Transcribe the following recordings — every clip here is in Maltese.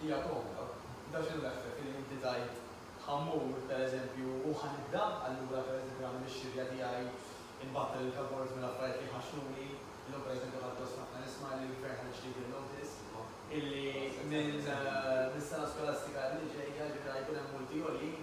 Hija komda. Dak x'inhu l-effett illi inti tgħid ħa mmur, per eżempju, u ħa nibda allura per eżempju nagħmel ix-xirja tiegħi, inbattel il-cupboards mill-affarijiet li jħaxxuni, illum per eżempju ħadt gost ħafna nisma' li l-Gvern ħareġ legal notice illi minn mis-sena skolastika li ġejja, ġifieri ħa jkun hemm multi għoljin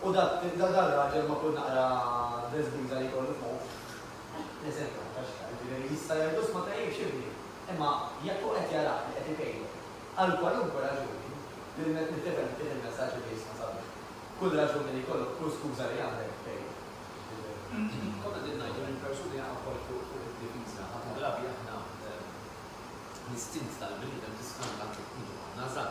U da, da, dar-raġel ma' kull naqra beżbiża li jkollu f'moħħu, l-eżempju hu ta' x'għar, jiġifieri jista' jgħidlu 'sma' tajjeb x'ibni, imma jekk hu qed jarak li qed ikejjel, għal kwalunkwe raġuni, nifhem fih il-messaġġ li jisma' sabiħ, kull raġuni li jkollok, kull skuża li għandek, kejjel. Jiġifieri, konna qegħdin ngħidu li l-persuni jaqgħu wkoll fuq id-difiża, ħafna drabi aħna, l-istint tal-bniedem tiskanta anke meta nkunu aħna żgħar,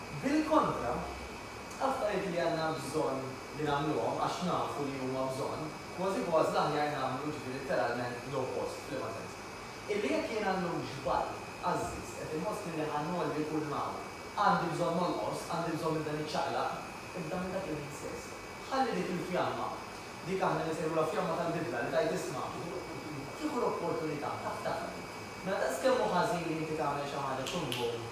Bil-kontra, affarijiet li għandna bżonn li nagħmluhom għax nafu li huma bżonn, kważi kważi l-aħjar nagħmlu ġifi litteralment l-oppost, f'liema sens? Illi jekk jiena llum xbajt, għażżiżt, qed inħossni li ħa ngħolli kull m'hawn, għandi bżonn nonqos, għandi bżonn nibda niċċaqlaq, ibda minn dak il-ħin stess. Ħalli dik il-fjamma, dik aħna li nsejħulha fjamma tal-bidla, li tgħid isma', kieku l-opportunità, taf tagħmel, mela daqs kemm hu ħażin li inti tagħmel xi ħaġa tkun bum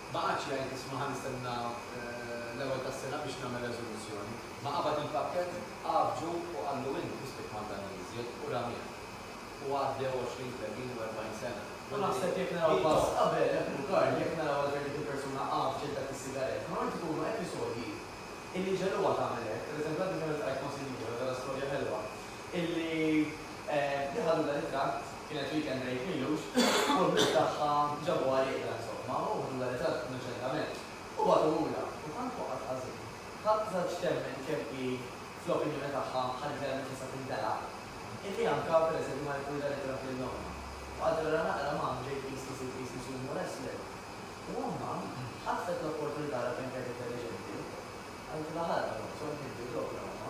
Ma qagħadx jgħid isma' ħa nistenna l-ewwel tas-sena biex nagħmel reżoluzzjoni. Ma qabad il-pakkett, għaffġu u qallu int mhux se tmandani iżjed u ramieh. U għaddew għoxrin, tletin u erbgħin sena. U naħseb jekk naraw pass qabel, hekk hu Karl, jekk naraw għal kemm dik il-persuna għaffġet dak is-sigarett, normalment ikunu episodji illi jġegħluha tagħmel hekk. Pereżempju għadni kemm iltqajt ma' sinjura, ġara storja ħelwa, illi li ħadu dan it-tratt kienet weekend break m'ilux u l-ħbieb tagħha ġabuha rieqda insomma u ħdu dan it-tratt innoċentament u bagħtuhulha u tant waqgħet ħażin ħadd żaġġ temmen kemm hi fl-opinjoni tagħha ħa literalment tista' tindela' illi anka per eżempju ma ħaditlu dan it-tratt lil ommha u qalet ara naqra mom ġej tqis li ssir tqis li ssir mhu wrestling u ommha ħatfet l-opportunità ara kemm kienet intelliġenti qalitilha ħa ara mom sonni inti u ġobra ommha.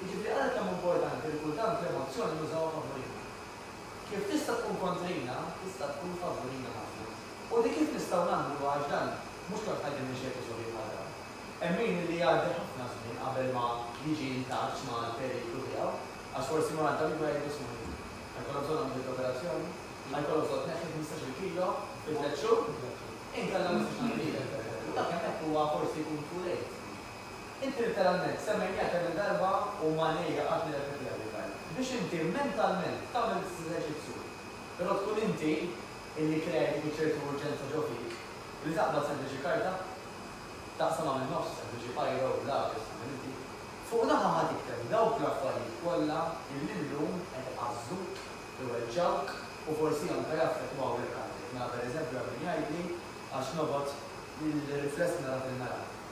Jiġifieri ara kemm hu importanti li kultant l-emozzjoni nużawha favurina. Kif tista' tkun kontrina, tista' tkun favurina ħafna. U di kif nistgħu nagħmluha għax dan mhux tant ħajr minn xi episodji bħal dawn. Hemm min illi jgħaddi ħafna żmien qabel ma jiġi intaċċ mal-periklu tiegħu għax forsi ma għadda mibgħed ġismu miegħu. Ħajkollok bżonn għamliet l-operazzjoni? Ħajkollok bżonn tneħħi ħmistax-il kilo fi tliet xhur? Inkella ma nistax ngħin lilek pereżempju. Dak hemmhekk huwa forsi jkun too late. Inti litteralment semmejniha kemm-il darba u ma ngħidha qatt nirrepetiha din l-għajja. Biex inti mentalment tagħmel l-istess eżerċizzju. Però tkun inti illi krea dik iċ-ċertu urġenza ġo fik li taqbad sempliċi karta, taqsamha min-nofs, sempliċi biro, lapes, x'tagħmel inti, fuq naħa ħa tikteb dawk l-affarijiet kollha illi llum qed iqażżuk, iweġġgħuk u forsi anke jaffettwaw lil qalbek. Mela pereżempju hemm min jgħidli għax noqgħod il-rifless nara fil-mera.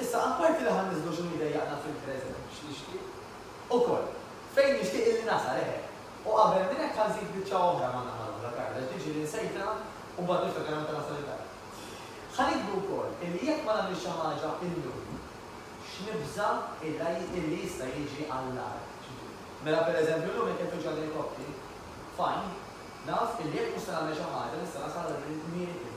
Issa, apparti li ħa nniżżlu x'inhu jdejjaqna fil-preżent biex nixtieq ukoll fejn nixtieq illi nasal, eħe. U qabel minn hekk ħa nżid biċċa oħra man-naħa l-oħra, Karl, għax dik ġieli nsejtha u mbagħad niftakar meta nasal id-dar. Ħa nikdbu wkoll illi jekk ma nagħmilx xi ħaġa illum, x'nibża' illi jista' jiġi għall-agħar. Mela, pereżempju, illum jekk qed tuġigħ l-elikopti, fajn, naf illi jekk mhux se nagħmel xi ħaġa nista' nasal għal miri kmieni.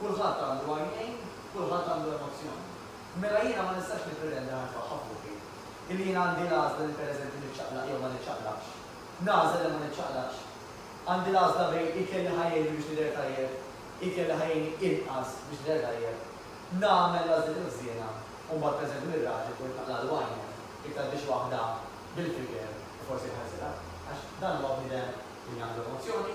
Kulħadd għandu għajnejn, kulħadd għandu emozzjoni. Mela jiena ma nistax nippretenda nagħrif aħħa fuqi. Illi jiena għandi l-għażla li pereżempju niċċaqlaq jew ma niċċaqlaqx. Nagħżel li ma niċċaqlaqx. Għandi l-għażla bejn ikel li ħa jgħinni biex nidher tajjeb, ikel li ħa jgħinni inqas biex nidher tajjeb. Nagħmel l-għażliet il-ħżiena u mbagħad pereżempju lir-raġel ikolli naqlagħlu għajnejh jekk tgħaddix waħda bil-figer u forsi jħarsilha. Għax dan huwa bniedem li għandu emozzjoni,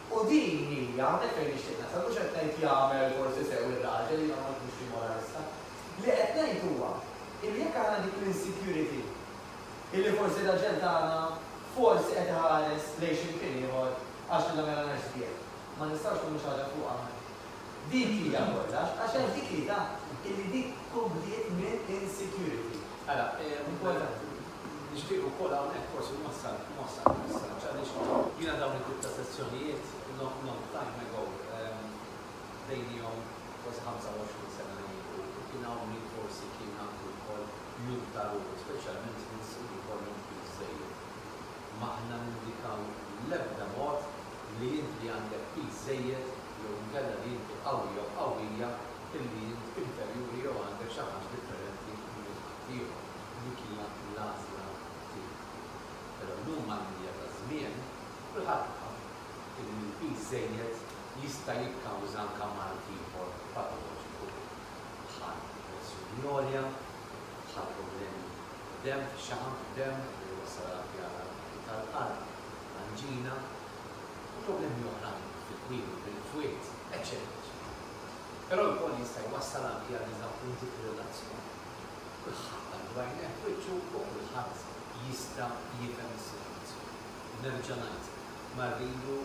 U din hi, hawnhekk fejn nixtieq nasal, mhux qed ngħid jagħmel forsi sew ir-raġel, jiena ma nkunx xi moralista, li qed ngħid huwa illi jekk aħna dik l-insecurity illi forsi r-raġel tagħna forsi qed iħares lejn xi mkien ieħor għax li nagħmilhanax sbieħ, ma nistgħux nagħmlu xi ħaġa fuqha aħna. Dik hija kollox, għax hemm dik l-idà illi dik tkun bdiet minn insecurity. Ara, importanti. Nixtieq ukoll hawnhekk forsi nwassal nwassal il-messaġġ għaliex jiena dawn it-tip ta' sezzjonijiet long long time ago bdejnihom forsi 25 sena ilu u kien hawn min forsi kien għandu wkoll jum ta' ruħu speċjalment nies li jkollhom flus żejjed. M'aħna nindikaw l-ebda mod li int li għandek piż żejjed jew inkella li inti qawwi jew qawwija illi int inferjuri jew għandek xi ħaġa differenti minn ħaddieħor. dik hija l-għażla tiegħu. Però llum mal-mdija taż-żmien, kulħadd fhem illi l-piż żejjed jista' jikkawża anke mard ieħor patoloġiku bħal pressjoni għolja, bħal problemi fid-demm, fix-xaħam fid-demm li jwassal għal fjaħar tal-qalb, anġina u problemi oħrajn fit-twemmin, bil-fwied, eċċetera eċċetera. Però lkoll jista' jwassal anke għal diżappunti fir-relazzjoni. Iż-żagħżugħ qal b'għajnejh f'wiċċu wkoll ħadd jista' jifhem is-sitwazzjoni. U nerġa' ngħid, ma rridu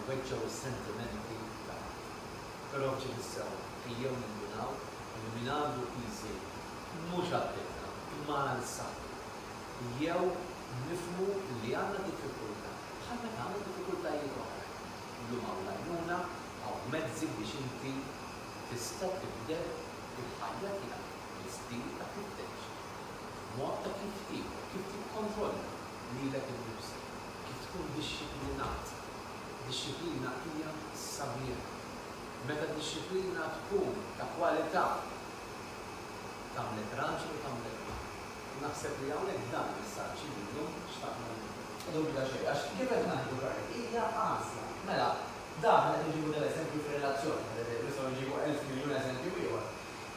nweġġgħu s-sentimenti ta' ħadd. Però f'ġid is-sewwa ejjew nindunaw li min għandu piżi mhux għal ħiltna imma għal saħħtu. Jew nifhmu li għandna diffikultà bħal meta għandna diffikultajiet oħrajn. Illum hawn l-għajnuna, hawn mezzi biex inti tista' tibdel il-ħajja tiegħek. L-istinta kif tgħix, il-mod ta' kif tiekol, kif tikkontrolla lilek innifsek, kif tkun dixxiplinat. Dixxiplina hija sabiħa. Meta d-dixxiplina tkun ta' kwalità, tagħmlek raġel u tagħmlek mara. U naħseb li hawnhekk dan il-messaġġ li llum xtaqna ngħaddu. Ma dubita xejn, għax kif qed ngħidu Karl, hija għażla. Mela, dak li qed inġibu tal-eżempju fir-relazzjoni, pereżempju, nistgħu nġibu elf miljun eżempju ieħor,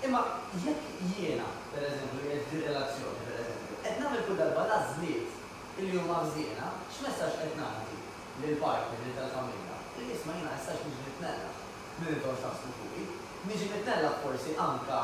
Imma jekk jiena, per eżempju, li qiegħed f'din relazzjoni, per eżempju, qed nagħmel kull darba l-għażliet li huma ħżiena, x'messaġġ qed ngħaddi lill-partner, lil tal-familja? Li isma' jiena issa għax niġi mitnellaħ minn li intom x'taħsbu fuqi. Niġi mitnellaħ forsi anke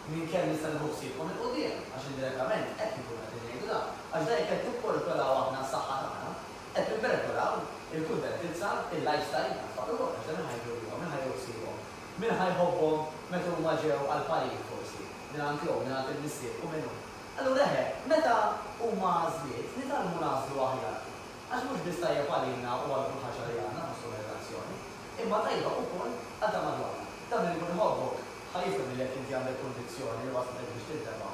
minn kemm nista' nieħu ħsiebkom 'il quddiem, għax indirettament hekk inkunu qegħdin ngħidu dan, għax dan jekk qed nipperikolaw aħna s-saħħa tagħna, qed nipperikolaw il-kuntentizza, il-lifestyle, għat-tfal ukoll, għax dan iħajru lilhom, iħajru ħsiebhom, Min ħa jħobbhom meta huma ġew għall-parir forsi mingħand jew mingħand il-missier u min hu? Allura eħe, meta huma għażliet, nitgħallmu nagħżlu aħjar. Għax mhux biss tajjeb għalina u għal kull ħaġa li għandna fosthom ir-relazzjoni, imma tajba ukoll għal ta' madwarna. Dan min ikun iħobbok ħa jifhem li jekk inti għandek kunvizzjoni li waslitek biex tintebaħ,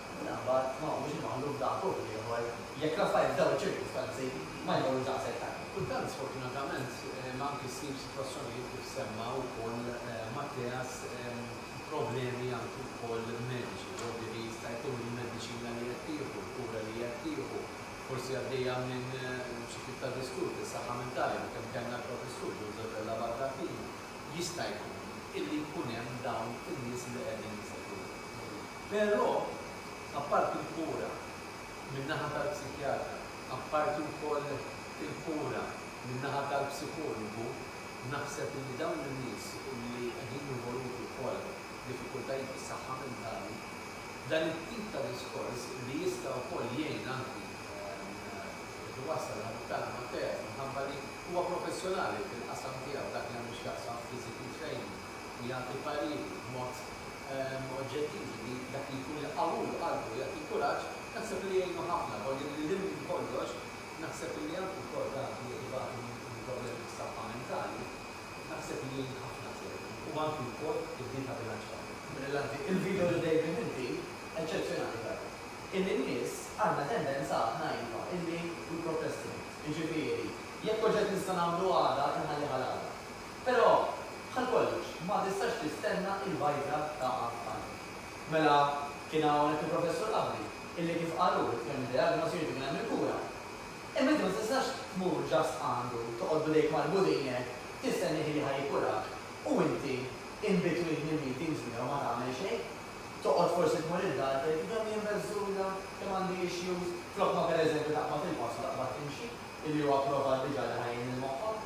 L-aħbar ma huwiex imgħalluf daqs uħud ieħor jekk l-affarijiet f'dawn iċ-ċirkustanzi ma jmorrux daqshekk tajjeb. Kultant, sfortunatament, hemm anki ssib sitwazzjonijiet kif semma wkoll Mathias, problemi anki wkoll mediċi, dogħbi li jista' jkun li l-mediċina li qed tieħu, l-kura li qed tieħu, forsi għaddejja minn xi tip ta' disturb fis-saħħa mentali u kemm kellna l-Professur Joseph Della Barra f'ħinu, jista' jkun illi jkun hemm dawn in-nies li qegħdin jsegwuh. Però, apparti l-kura min-naħa tal-psikjatra, apparti wkoll il-kura min-naħa tal-psikologu, naħseb illi dawn in-nies illi qegħdin involuti wkoll f'diffikultajiet fis-saħħa mentali, dan it-tip ta' diskors li jista' wkoll jgħin anki biex iwassal ħabib-tagħna Matteas minħabba li huwa professjonali fil-qasam tiegħu f'dak li għandu x'jaqsam physical training, u jagħti parir b'mod oġġettiv li dak li jkun iqawwilu qalbu u jagħtih kuraġġ, naħseb li jgħinu ħafna. Però li lil hinn minn kollox, naħseb li anki wkoll dawk li qed ibatu minn problemi fis-saħħa mentali, naħseb li jgħin ħafna t-therapy u anki wkoll il-ħin ta' bilanċ familja. Brillanti il-video lil David inti, eċċezzjonali veru. Illi n-nies għandna tendenza aħna iva illi we procrastinate, jiġifieri jekk oġġett nista' nagħmlu għada inħallih għal għada. Però, bħal kollox, ma tistax tistenna il-bajta taqa' f'ħalq. Mela, kien hawnhekk il-Professur Abri, illi kif qal hu, jitkellem bid-diagnosi, irid ikun hemm il-kura. Imma inti ma tistax tmur just għandu, toqgħod b'idejk marbutin hekk, tistennieh illi ħa jikurak, u inti in between il-meetings miegħu ma tagħmel xejn. Toqgħod forsi tmur id-dar tgħid, kemm jien beżżuża, kemm għandi issues, flok ma pereżempju taqbad il-pass u taqbad timxi, illi hu approvat diġà li ħa jgħin lil moħħok.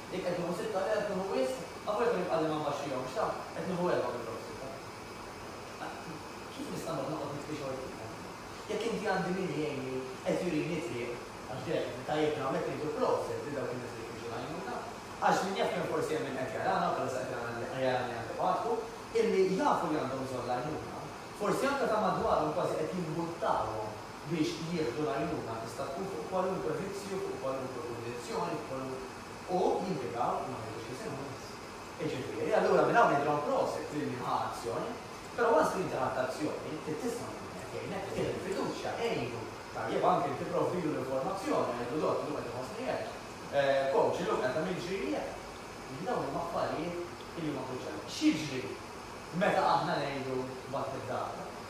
Jekk qed nieħu sitta, le qed nieħu wisq, avolja kien ibqagħli ma nbaxxihomx, x'taf, qed nieħu erbgħa minn dawk sitta. Kif nista' noqgħod noqgħod nitfi xogħol fihom? Jekk inti għandi min jgħinni, qed jurini t-triq, għax dejjem qed ittajjibna hawnhekk ngħidu proset lil dawk in-nies li jfittxu l-għajnuna, għax min jaf kemm forsi hemm min qed jarana, bħalissa qed jarana li jarani anke f'għatku, illi jafu li għandhom bżonn l-għajnuna, forsi anke ta' madwarhom kważi qed jimbuttawhom biex jieħdu l-għajnuna tista' tkun fuq kwalunkwe vizzju, fuq kwalunkwe kundizzjoni, f'kwalunk. U jimpjegaw, ma ngħidux isimhom biss. Jiġifieri, allura minn hawn ngħidilhom prosit lil min ħa azzjoni. Però once li inti ħadt azzjoni, trid tisma' lil min qed jgħinek, tih il-fiduċja, għinu. Tajjeb, anki inti provdilu l-informazzjoni, ngħidlu dott, illum qed inħossni hekk. Coach, illum qed nagħmilli ġrieli hekk. Jiġifieri dawn huma affarijiet illi huma kruċjali. X'jiġri meta aħna ngħidu mbagħad lid-dagħba?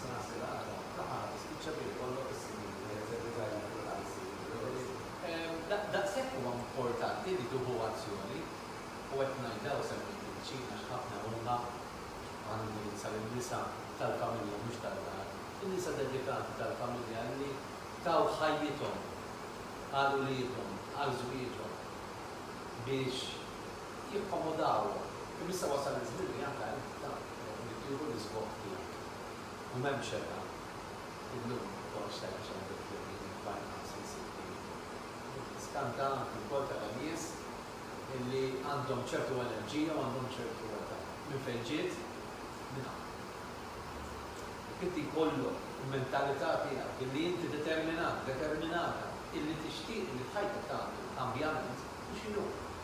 Saħansitra għadha ta' qatt tispiċċa billi jkollok is-snin li qed teddikalhom kull qalb u kull ħsieb. Daqshekk huwa importanti li tieħu azzjoni, u qed ngħid hawn semmejt il-bċin għax ħafna huma, u ħa nindirizza lin-nisa tal-familja mhux tad-dar, in-nisa dedikati tal-familja li taw ħajjithom għal uliedhom, għal żwieġhom biex jakkomodawha, imma issa wasal iż-żmien li anke inta trid tieħu l-isbogħ tiegħek. U m'hemm xebgħa illum tgħoddx tgħid għax għandek figli minn barra ħamsin sittin. Tiskanta anke wkoll tara nies illi għandhom ċertu allerġija u għandhom ċertu età. Minn fejn ġiet? Minn hawn. Jekk inti jkollok il-mentalità tiegħek illi inti determinat, determinata illi tixtieq illi f'ħajtek tagħmel kambjament, u x'inhu?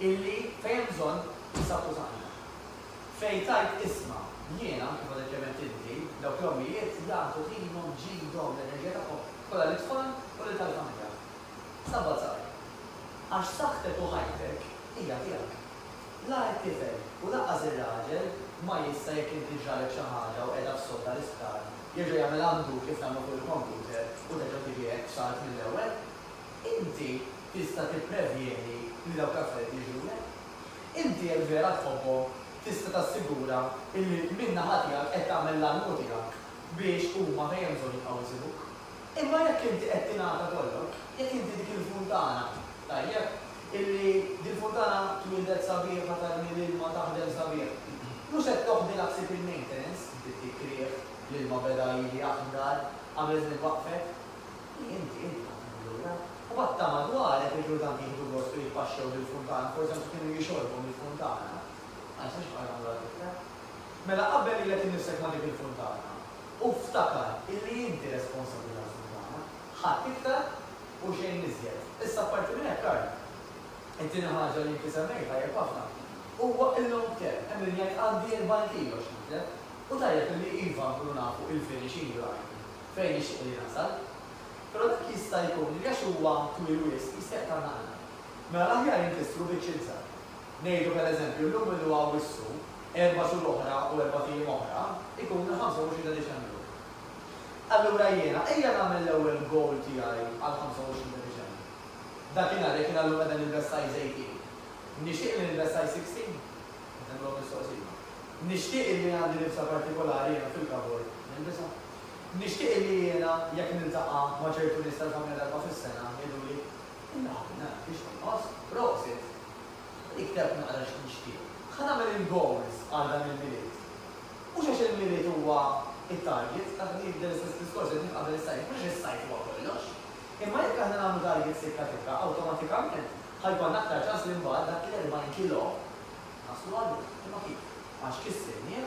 illi fejn hemm bżonn insaqqu saħħna. Fejn tgħid isma', jiena, kif għadek kemm għedt inti, dawk l-ommijiet jagħtu ħinhom, ġidhom, l-enerġija tagħhom kollha lit-tfal u lil tal-familja. Sabba' żgħar. Għax saħħtek u ħajtek hija tiegħek. La t-tifel u lanqas ir-raġel ma jista' jekk inti ġralek xi ħaġa u qiegħda f'sodda l-isptar, jerġa' jagħmel għandu kif nagħmlu fuq il-computer u terġa' tiġi hekk salt mill-ewwel. Inti Tista' tipprevjeni li dawk l-affarijiet jiġrulek? Inti jekk vera tħobbhom, tista' tassigura li min-naħa tiegħek qed tagħmel l-almu tiegħek biex huma fejn hemm bżonn jibqgħu jsibuk. Imma jekk inti qed tingħata kollok, jekk inti dik il-funtana, tajjeb, illi dil-funtana twieldet sabiħa tarmi l-ilma taħdem sabiħ, mhux qed toħdilha ħsieb il-maintenance, inti ttik riħ, l-ilma beda jili aħdar, qabel żmien waqfet. Hi, inti, inti tagħti minn lura. U mbagħad ta' madwarek li kienu tant jieħdu gost u jitpaxxew bil-funtana, forsi anki kienu jixorbu mill-funtana. Ma nistax nibqa' nagħmlu għal tifla. Mela qabbel lilek innifsek ma' dik il-funtana u ftakar illi inti responsabbli tal-funtana, ħadd iktar u xejn iżjed. Issa apparti minn hekk, Karl, it-tieni ħaġa li inti semmejt tajjeb ħafna, huwa il-long term. Hemm min jgħid għandi 40 kilo x'nitlef u tajjeb illi iva nkunu nafu il-finishing line. fejn jixtieq li nasal. Però dak jista' jkun li għax huwa twil wisq jista' jaqta' l-nagħla. Mela l-aħjar inkissru biċċ iżgħar. Ngħidu per eżempju llum illu hawn wissu, erba' xhur oħra u erbat ijiem oħra jkun il-ħamsa u għoxrin ta' Diċembru. Allura jiena ejja nagħmel l-ewwel goal tiegħi għall-ħamsa u għoxrin ta' Diċembru. Dakinhar jekk jiena llum qiegħda nilbes size eighteen, nixtieq li nilbes size sixteen? Qed nagħmilhom mistoqsija. Nixtieq illi għandi libsa partikolari jiena fil-kabord nilbisha? Nixtieq li jiena jekk niltaqa' ma' ċertu nies tal-familja darba fis-sena, jgħiduli, Inna ħabib, naraw kif inti tinħoss, prosit! Li ktebt naqra x'nixtieq. Ħa nagħmel il-goals għal dan il-Milied. Mhux għax il-Milied huwa t-target, taf li jibda l-istess diskors qed nifhem qabel is-sajf, mhux għax is-sajf huwa kollox. Imma jekk aħna nagħmlu targets tikka tikka, awtomatikament ħa jkollna aktar ċans li mbagħad dak l-40 kilo naslu għalih. Imma kif? Għax kissirnieh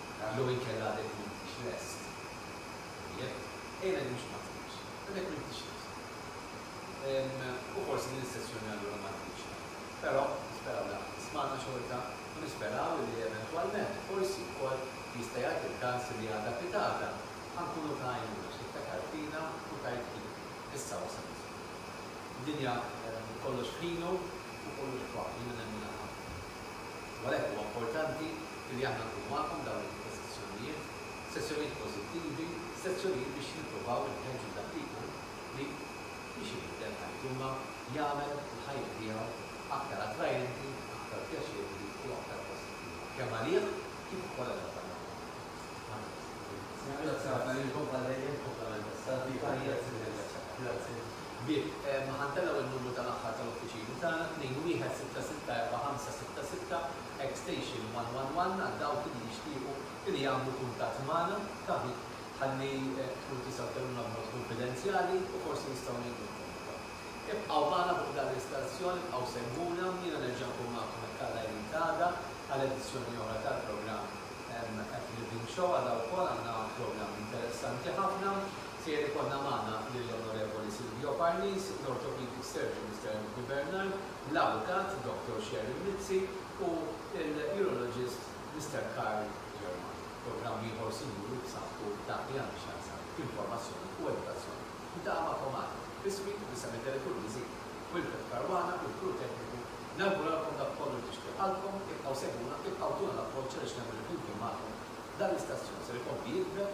Għax jew inkella għadek m'intix lest. Tajjeb, ejja ngħidu mhux m'għadtix, għadek m'intix lest. U forsi din is-sessjoni allura ma tkunx tajba. Però nisperaw li qagħdtu tismagħna xorta u nisperaw illi eventwalment forsi wkoll jista' jagħti l-każ illi għada pitgħada ħa nkunu ta' għajnuna xi ftakart fina u tgħid jien, issa wasal iż-żmien. Id-dinja kollox f'ħinu u kollox f'waqtu, jiena nemminha ħafna. U għalhekk huwa importanti li aħna nkunu magħkom f'dawn it-tip ta' sessjonijiet, sessjonijiet pożittivi, sessjonijiet biex nippruvaw inħeġġu dak li jkun li biex ibiddel ħajtu imma jagħmel il-ħajja tiegħu aktar attrajenti, aktar pjaċevoli u aktar pożittiva kemm għalih kif ukoll għal dawk għandna f'maħna. Nirringrazzjak għal-input bħal dejjem komplementat. Grazzi. Grazzi. Bieb, Ma ħantellgħu n-numru tal-aħħar tal-uffiċini tagħna, 21664666, extension 111, għal dawk li jixtiequ li jagħmlu kuntatt magħna, ta' ħin, ħalli tkunu tistgħu tkellmuna b'mod kunfidenzjali u forsi nistgħu ngħinukom ukoll. Ibqgħu magħna fuq dan l-istazzjon, ibqgħu segwuna, jiena nerġa' nkun magħkom hekk Alla jrid għada għal edizzjoni oħra tal-programm At Living Show, għada wkoll għandna programm interessanti ħafna. Ser ikollna magħna lill-Onorevoli Silvio Parnis, l-Orthopedic Surgeon Mister Anthony Bernard, l-Avukat Doctor Sharon Mizzi u l-Urologist Mister Karl Germar. Programm ieħor sinjuri b'saħħtu f'dak li għandu x'jaqsam b'informazzjoni u edukazzjoni. Niltaqa' magħkom għada, biswi, b'isem id-Direttur Miżin, Wilfred Caruana u l-crew tekniku, nawguralkom dak kollu li tixtieq qalbkom, ibqgħu segwuna, ibqgħu tuna l-appoġġ għaliex nemmen li flimkien magħkom dan l-istazzjon ser ikompli jikber,